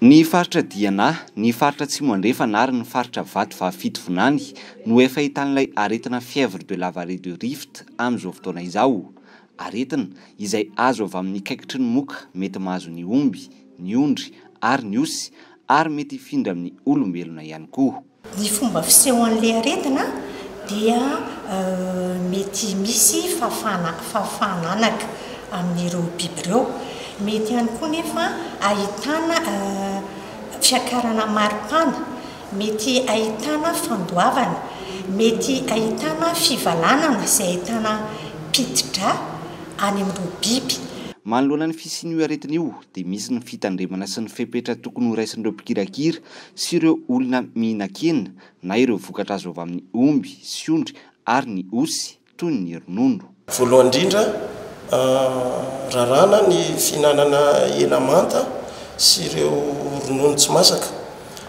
Ny faritra Diana, ny faritra Atsimo Andrefana ary ny faritra Vatovavy-Fitovinany no efa ahitan'ilay aretina fièvre de la vallée du Rift amin'izao fotoana izao. Aretina izay azo avy amin'ny kaikitry ny moka mety mahazo ny omby, ny ondry ary ny osy ary mety hifindra amin'ny olombelona ihany koa. Ny fomba fisehon'ilay aretina dia mety misy fahafahana fahafahana anaka amin'ireo biby ireo. Mety ihany koa nefa ahitana fiakarana maripana, mety ahitana fandoavana, mety ahitana fivalanana izay ahitana piti-drà any amin'ireo biby. Manoloana ny fisian'io aretina io dia misy ny fitandremana sy ny fepetra tokony horaisin'ireo mpikirakira sy ireo olona mihinan-kena na ireo vokatra azo avy amin'ny omby sy ondry ary ny osy, toy ny ronono. Voalohany indrindra, raràna ny fihinanana hena manta sy ireo ronono tsy masaka.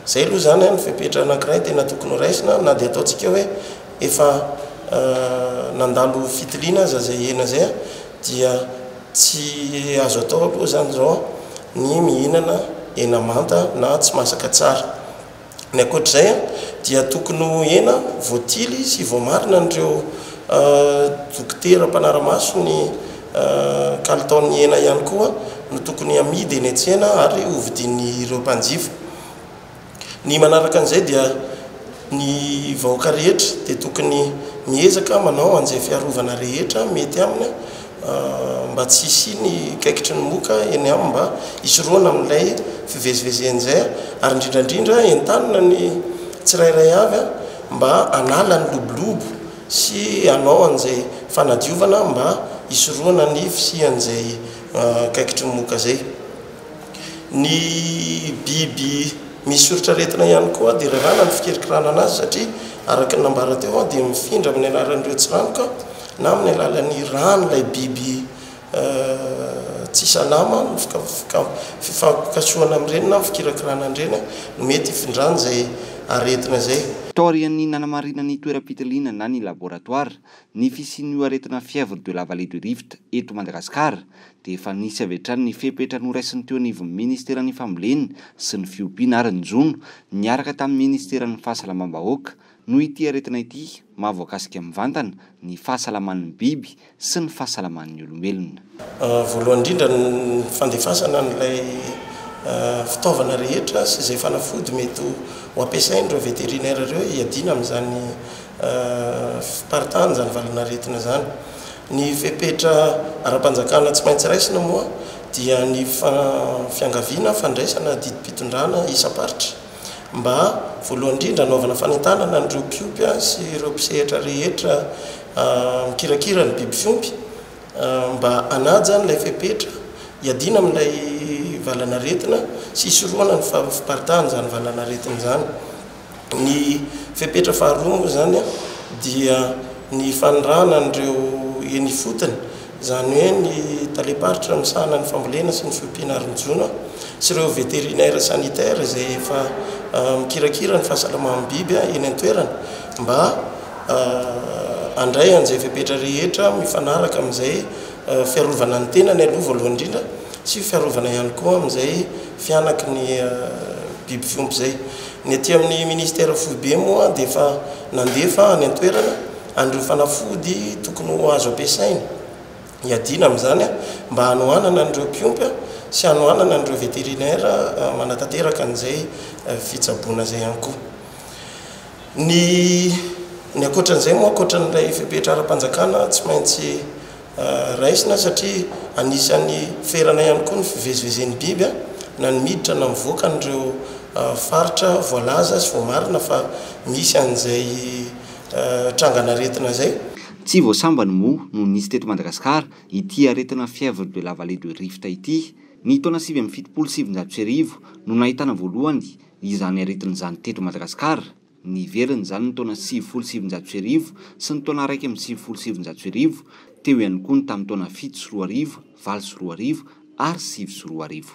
Izay aloha izany no fepetra anankiray tena tokony horaisina na dia ataontsika hoe efa nandalo fitiliana aza izay hena izay dia Tsy azo atao aloha izany izao ny mihinana hena manta na tsy masaka tsara. Ny ankoatra izay dia tokony ho hena voatily sy voamarina an'ireo dokotera mpanara-maso ny kalitaon'ny hena ihany koa no tokony hamidy eny an-tsena ary hovidian'ireo mpanjifa. Ny manaraka an'izay dia ny vahoaka rehetra dia tokony miezaka manao an'izay fiarovana rehetra mety aminy mba tsy hisiany kaikitry ny moka eny aminy mba hisorohana amin'ilay fivezivezeny izay ary indrindra indrindra entanina ny tsirairay avy mba hanala ny lobolobo sy hanao an'izay fanadiovana mba hisorohana ny fisian'izay kaikitry ny moka izay. Ny biby misy soritr'aretina ihany koa dia raharaha ny fikirikiranana azy satria araka ny nambara teo dia mifindra amin'ny alalan'ireo tsiranoka na amin'ny alalan'ny ràn'ilay biby tsy salama ny fifampikasohana amin'ireny na ny fikirakirana an'ireny no mety hifindrany izay aretina izay. Taorian'ny nanamarinan'ny toeram-pitiliana na ny laboratoara ny fisian'io aretina fièvre de la vallée du Rift eto Madagasikara dia efa nisy avy hatrany ny fepetra noraisin'ny teo anivon'ny Ministeran'ny Fambolena sy ny Fiompiana ary ny jono, niaraka tamin'ny Ministeran'ny Fahasalamam-bahoaka, noho ity aretina ity mahavoakasika mivantana ny fahasalaman'ny biby sy ny fahasalaman'ny olombelona. Voalohany indrindra ny fandefasana an'ilay fitaovana rehetra sy izay fanafody mety ho ampiasain'ireo vétérinaire ireo hiadiana amin'izany fiparitahana izany valin'aretina izany. Ny fepetra ara-panjakana tsy maintsy raisina moa dia ny fiangaviana fandraisana didim-pitondrana isam-paritra, mba voalohany indrindra hanaovana fanentanana an'ireo mpiompy sy ireo mpisehatra rehetra mikirakira ny biby fiompy mba hanaja an'ilay fepetra, hiadiana amin'ilay valanaretina sy hisorohana ny faharofomparitan'izany valanaretina izany. Ny fepetra faharoa moa izany dia ny fanirahana an'ireo eny ifotony, izany hoe ny talem-paritra misahana ny fambolena sy ny fiompiana ary ny jono sy ireo vétérinaires sanitaires izay efa mikirakira ny fahasalaman'ny biby eny an-toerana mba handray an'izay fepetra rehetra mifanaraka amin'izay fiarovana ny tenany aloha voalohany indrindra sy fiarovana ihany koa amin'izay fihanaky ny biby fiompy izay. Ny aty amin'ny Ministera foibe moa dia efa nandefa any an-toerana an'ireo fanafody tokony ho azo ampiasaina hiadiana amin'izany mba hanohanana an'ireo mpiompy sy hanohanana an'ireo vétérinaire manatanteraka an'izay fitsaboana izay ihany koa. Ny ny ankoatran'izay moa ankoatran'ilay fepetra ara-panjakana tsy maintsy Raisina satria anisan'ny ferana ihany koa ny fivezivezen'ny biby na ny miditra na mivoaka an'ireo faritra voalaza sy voamarina fa misy an'izay trangan'aretina izay. Tsy vao sambany moa no nisy teto Madagasikara ity aretina fièvre de la vallée de Rift ity. Ny taona sivy amby fitopolo sy sivinjato sy arivo no nahitana voalohany izany aretina izany teto Madagasikara. Niverina izany ny taona sivifolo sy sivinjato sy arivo sy ny taona iraika amby sivifolo sy sivinjato sy arivo, teo ihany koa ny tamin'ny taona fito sy roa arivo, valo sy roa arivo ary sivy sy roa arivo.